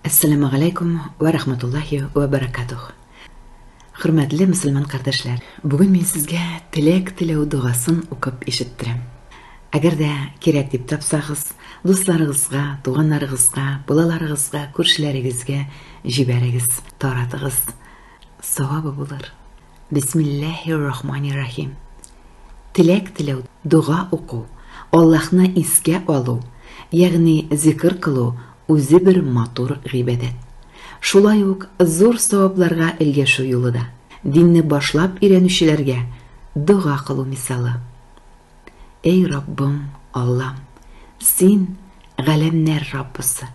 Әссәламү галәйкүм вә рахматуллаһи вә бәрәкәтүх! Хөрмәтле мөселман кардәшләр! Бүген мин сезгә теләк теләү догасын укып ишеттерәм. Әгәр дә кирәк дип тапсагыз, дусларыгызга, туганнарыгызга, балаларыгызга, күршеләрегезгә җибәрегез, таратыгыз. Савабы булыр. Бисмиллаһи рахмани рахим. Теләк теләү, дога уку, Аллаһны искә алу, ягъни зикр кылу үзе бер матур гыйбадәт. Шулай ук зур савапларга элгәшү юлы да. Динне башлап өйрәнүчеләргә дога кылу мисалы. Эй Раббым, Аллам, Син, галәмнәр Раббысы,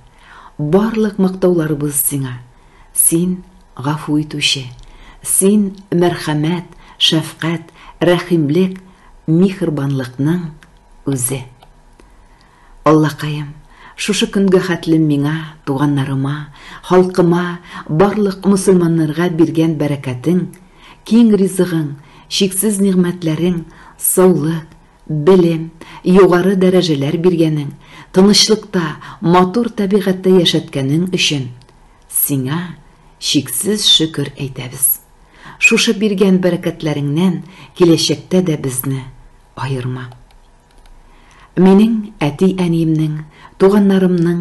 барлык мактауларыбыз Сиңа, Син, Гафу Итүче, Син, мәрхәмәт, шәфкать, рәхимлек, михербанлыкның Үзе. Аллакаем, шушы көнгә хәтлем миңа, туганнарыма, халкыма, барлык мосылманнарга биргән бәрәкәтең, киң ризыгың, чиксез нигъмәтләрең, саулык, белем, югары дәрәҗәләр биргәнең, тынычлыкта, матур табигатьтә яшәткәнең өчен Сиңа чиксез шөкер әйтәбез. Шушы биргән бәрәкәтләреңнән киләчәктә дә безне аерма. Минең әти-әниемнең, туганнарымның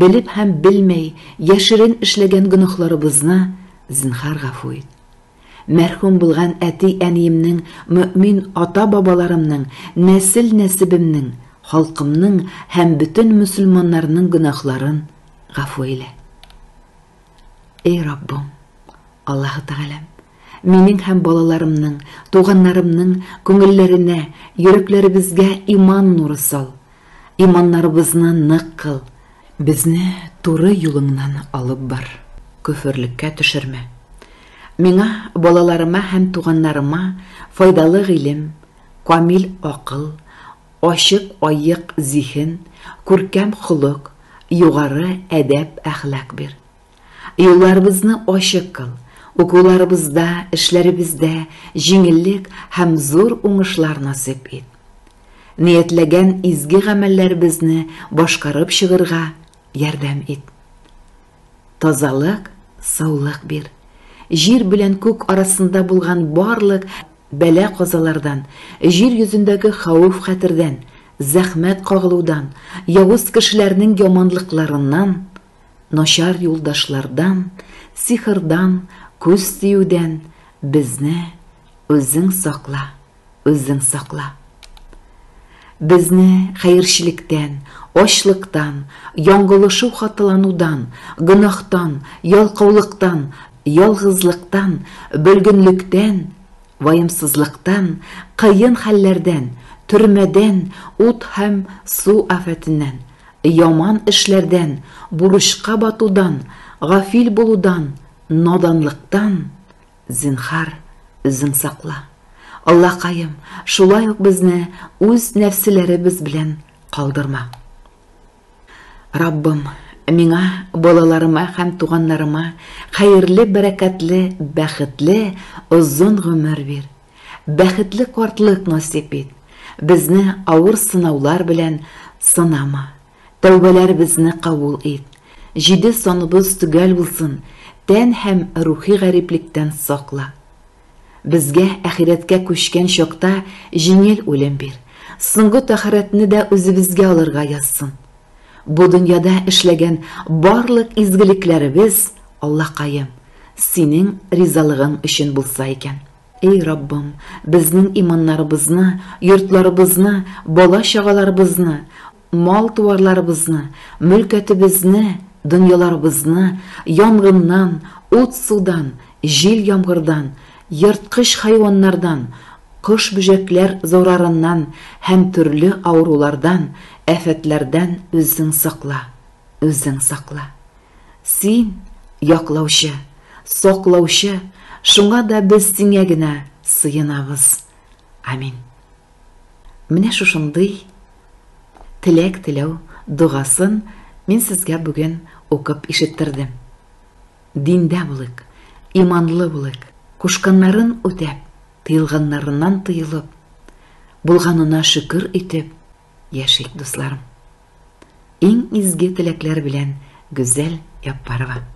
белеп һәм белмәй яшерен эшләгән гөнаһларыбызны, зинһар, гафу ит. Мәрхүм булган әти-әниемнең, мөэмин ата-бабаларымның, нәсел-нәсебемнең, халкымның һәм бөтен мөселманнарның гөнаһларын гафу әйлә. Эй Раббым, Аллаһы Тәгаләм! Минең һәм балаларымның, туганнарымның күңелләренә, йөрәкләребезгә иман нуры сал. Иманнарыбызны нык кыл. Безне туры юлыңнан алып бар. Көферлеккә төшермә. Миңа, балаларыма һәм туганнарыма файдалы гыйлем, камил акыл, ачык аек зиһен, күркәм холык, югары әдәп-әхлак бир. Юлларыбызны ачык кыл, укуларыбызда, эшләребездә җиңеллек һәм зур уңышлар насыйп ит. Ниятләгән изге гамәлләребезне башкарып чыгырга ярдәм ит. Тазалык, саулык бир. Җир белән күк арасында булган барлык бәла-казалардан, җир йөзендәге хәвеф-хәтердән, зәхмәт кагылудан, явыз кешеләрнең яманлыкларыннан Начар юлдашлардан, сихырдан, күз тиюдән безне үзең сакла, үзең сакла. Безне хәерчелектән, ачлыктан, яңгылышу хаталанудан, гөнаһтан, ялкаулыктан, ялгызлыктан, бөлгенлектән, ваемсызлыктан, кыен хәлләрдән, төрмәдән, ут һәм су афәтеннән, Яман эшләрдән, бурычка батудан, гафил булудан, наданлыктан, зинһар, үзең сакла. Аллакаем, шулай ук безне үз нәфселәребез белән калдырма. Раббым, миңа, балаларыма һәм туганнарыма хәерле, бәрәкәтле, бәхетле, озын гомер бир. Бәхетле картлык насыйп ит. Безне авыр сынаулар белән сынама. Тәүбәләребезне кабул ит. Җиде саныбыз төгәл булсын, тән һәм рухи гариплектән сакла. Безгә әхирәткә күчкән чакта җиңел үлем бир. Соңгы тәхарәтне дә үзебезгә алырга язсын. Бу дөньяда эшләгән барлык изгелекләребез, Аллакаем, Синең ризалыгың өчен булса икән. Эй Раббым, безнең иманнарыбызны, йортларыбызны, бала-чагаларыбызны, мал-туарларыбызны, мөлкәтебезне, дөньяларыбызны янгыннан, ут-судан, җил-яңгырдан, Ерткыч хайваннардан, кош-бөҗәкләр зурарыннан һәм төрле авырулардан, афәтләрдән үзең сакла, үзең сакла. Син, яклаучы, саклаучы, шуңа да без сиңә генә сыенабыз. Амин. Менә шушындый теләк теләү догасын мин сезгә бүген укып ишеттердем. Диндә булыйк, иманлы булыйк, кушканнарын үтәп, тыелганнарыннан тыелып, булганына шөкер итеп яшик, дусларым. Иң изге теләкләр белән Гүзәл Яппарова.